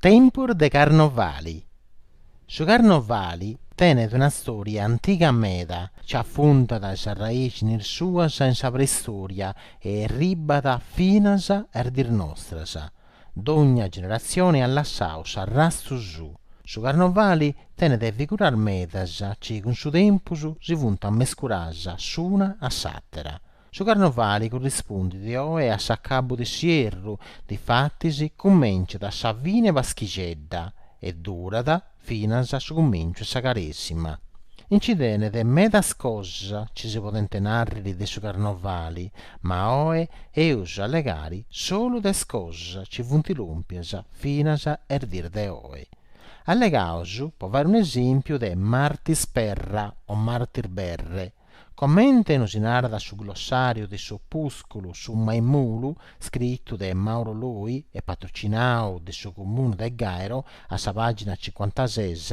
Tempus de carnovali Su carnovali tenet una stòria antiga meda chi afundat is arraixnis suas in sa preistòria e erribat finas a is dis nostras. Dogna generatzioni at lassau s'arrastu suu. Su carnovali tenet figuras medas chi cun su tempus si funt mescuras s'una a s'àtera. Su carnovali currispundit oe a s'acabu de s'ierru, difatis cumenciat a sa fini 'e Paschixedda e durat finas a su cumenciu 'e sa Caresima. Nci tenet medas cosas ci si podent nàrriri de su carnovali, ma oe eus a allegari solu de is cosas ci funt lòmpias finas a is dis de oe. Allegaus, po fai un'esèmpiu, de Martis Perra o Martis Berre, Comente nosi narat su glossàriu de s'opùsculu Su Maimulu, scritu de Mauro Loi e patrocinau de su Comunu de Gairo, a sa pàgina cincuantases,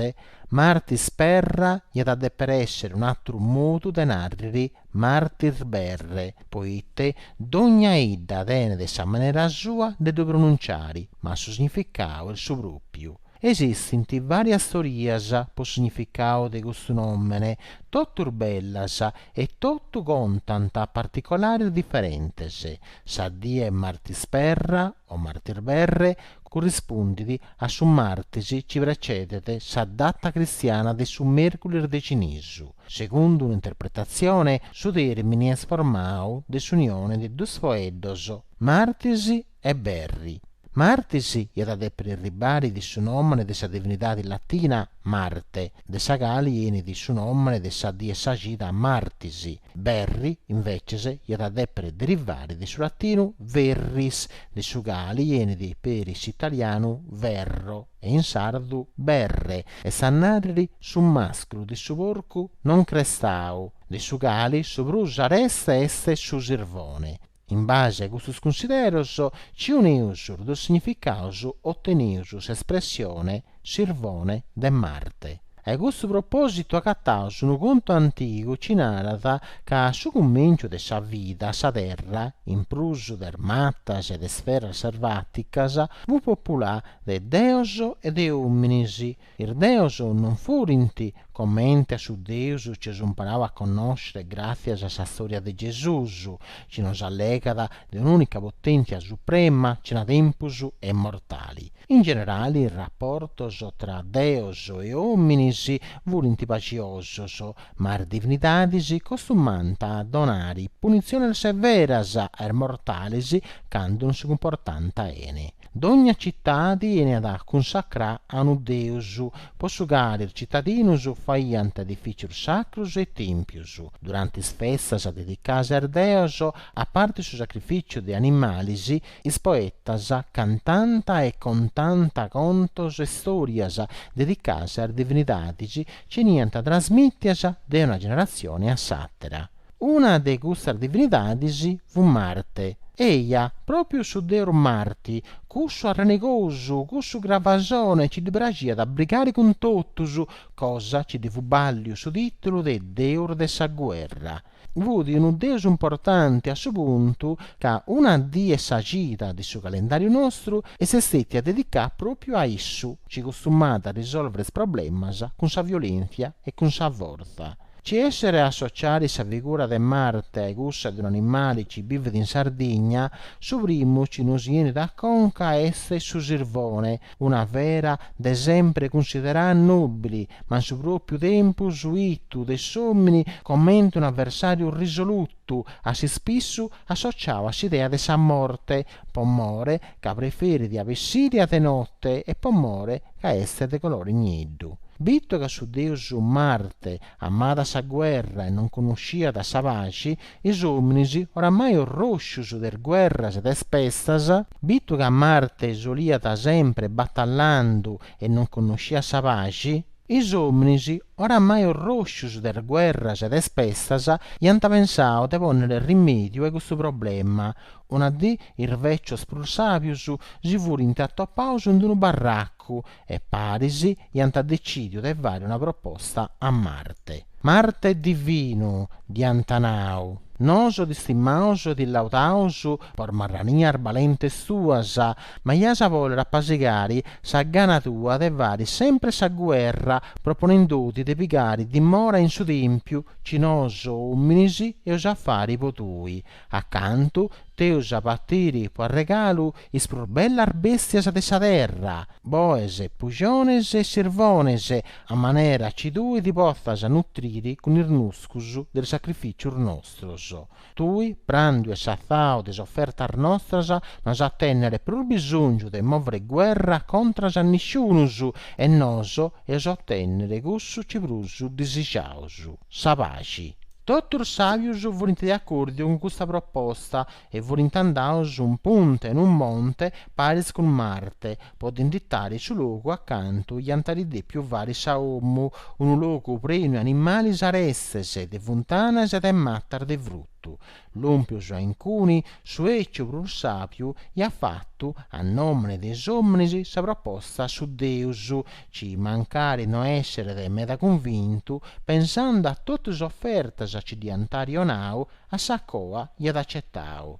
Martis Perra iat a dèpere èssere un'àteru modu de nàrriri Martis Berre, poite dogna idda tenet sa manera sua de ddu pronuntziari, ma su significau est su pròpiu, Esistint vàrias stòrias po significau de custu nòmene, totus bellas e totu contant particolaris diferentes. Sa die Martis Perra o Martis Berre currispundit a su martis chi precedet sa data cristiana de su mèrculis de cinisu. Segundu un'interpretatzione su tèrmini est formau de s'unione de duus foeddos, Martis e berri. Martis iat a dèpiri arribari de su nòmene de sa divinidadi latina Marte, de sa cali enit su nòmene de sa di 'e sa cida Martis, berri, invècias, iat a dèpiri derivari de su latinu verris, de su cali enit peri s'italianu verro e in sardu berre, est a nàrriri su màsculu de su porcu non crestau, de su cali su prus areste est su sirvone. In base a custos cunsideros ci uneus is duus significaus oteneus s'espressione sirvone de Marte. Ai custu propositu agataus unu contu antigu ci narat ca a su cumenciu de sa vida sa Terra, in prus de is matas e de is feras servaticas, fut populà de deos e de ominis, Is deus non furint comente a su Deus ci eus imparau a connoscere gràtzias a sa stòria de Gesùs, ci nos allegat de un'ùnica potèntzia suprema cena tempus e immortali. In generali is raportos tra deus e òminis furint paxiosos, ma is divinidadis costumànt a donari punitziones severas a is mortalis candu non si cumportànt bene. Dogna citadi 'eniat cunsacrà a unu deus, po su cali is citadinus faiant edifìcius sacrus e tèmpius, durante is festas dedicadas a is deos, a parti su sacrificiu de animalis, is poetas cantànt e contànt contos e stòrias dedicadas a is divinidadis, ci 'eniant trasmìtias de una generatzioni a s'àtera. Una de custas divinidadis fut Marte. Eja, pròpiu su deus Marti, cussu arranegosu, cussu gravasone ci ddi praxiat a brigare cun totus, cosa ci ddi fut bàlliu su tìtulu de deus de sa guerra. Fut unu deus importanti a su puntu ca una dì 'e sa cida de su calendàriu nostru est stètia dedicada pròpiu a issu, ci custumàt a risòlvere is problemas cun sa violèntzia e cun sa fortza. Ci esseret a associare sa figura de Marte a-i cussa de un'animale ci bivit in Sardigna, su primu ci nos 'enit a conca est su sirvone, una fera de sempre cunsiderada nobile, ma in su propiu tempus 'itu de s'omini comente un'avversariu risolutu, Totu a s'ispissu associau a s'idea de sa morte, po more ca preferit a bessiri a de note e po more ca est de colore nieddu. Bitu ca su deus Marte amàt sa guerra e non connosciat sa paxi, is ominis, oramai orroscius de is guerras e de is pestas, bitu ca Marte soliat sempre batallandu e non connosciat sa paxi, Is ominis, oramai orroscius de is guerras e de is pestas, iant pensau de ponniri rimediu a custu problema. Una dì is vecius prus sabius si furint atopaus in unu barracu e paris iant decidiu de fari una proposta a Marte. Marte divinu, dd'iant nau, nosu t'istimaus e ti laudaus po is marranias balentes tuas, ma iaus a bòlere apasigare sa gana tua de fare sempre sa guerra proponendoti de pigare dimora in su tèmpiu ci nosu òminis eus a fare po tui, acantu t'eus a partire po arregalu is prus bellas bèstias de sa terra, boes, puxones e sirvones, a manera ci tui ti potzas nutrire cun is nuscus de is sacrifìcios nostros. Tui, pràndiu e satzau de is ofertas nostras, no as a tènnere prus bisòngiu de mòvere guerra contras a nisciunus, e nosu eus a otènnere cussu ci prus disixaus, sa paxi. Totus is sàbius furint de acòrdiu cun custa proposta e furint andaus in punta 'e unu monte paris cun Marte, po dd'inditari su logu a cantu iant ari dèpiu fari sa omu, unu logu prenu 'e animales arestes, de funtanas e de matas de frutu, lòmpius a incuni, su èciu prus sàbiu iat fatu, a nòmene de is òmines, sa proposta a su deus, ci mancari no èsseret meda cunvintu, pensende a totu is ofertas ci dd'iant arionau, a sa coa iat acetau.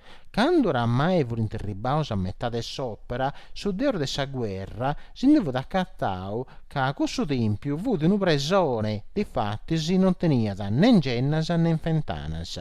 Cando oramai furint erribbaus a metà de s'òpera, su deus de sa guerra si ndi fut acatau ca cussu tèmpiu fut unu presone, difatis non teniat ne ngennas ne fentanas.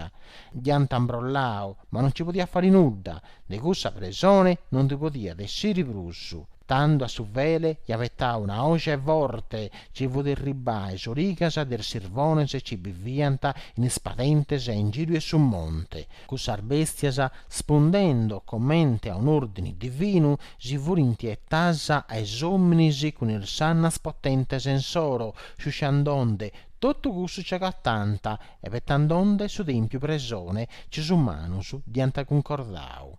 Dd'iant ambrollau, ma non nci podiat fari nudda, de cussa presone non ndi podiat essiri prus, tando a su fele iat petau una oje forte, ci fut irribbà a is origas de is sirvones ci biviant in is padentes a ingìriu 'e su monte, Cussas bèstias, spundendo comente a un'òrdini divinu, si furint etas a is òmines cun is sannas potentes insoro, sciusciandonde totu cussu ci agatànt e petandonde su tèmpiu presone ci is umanus dd'iant cuncordau.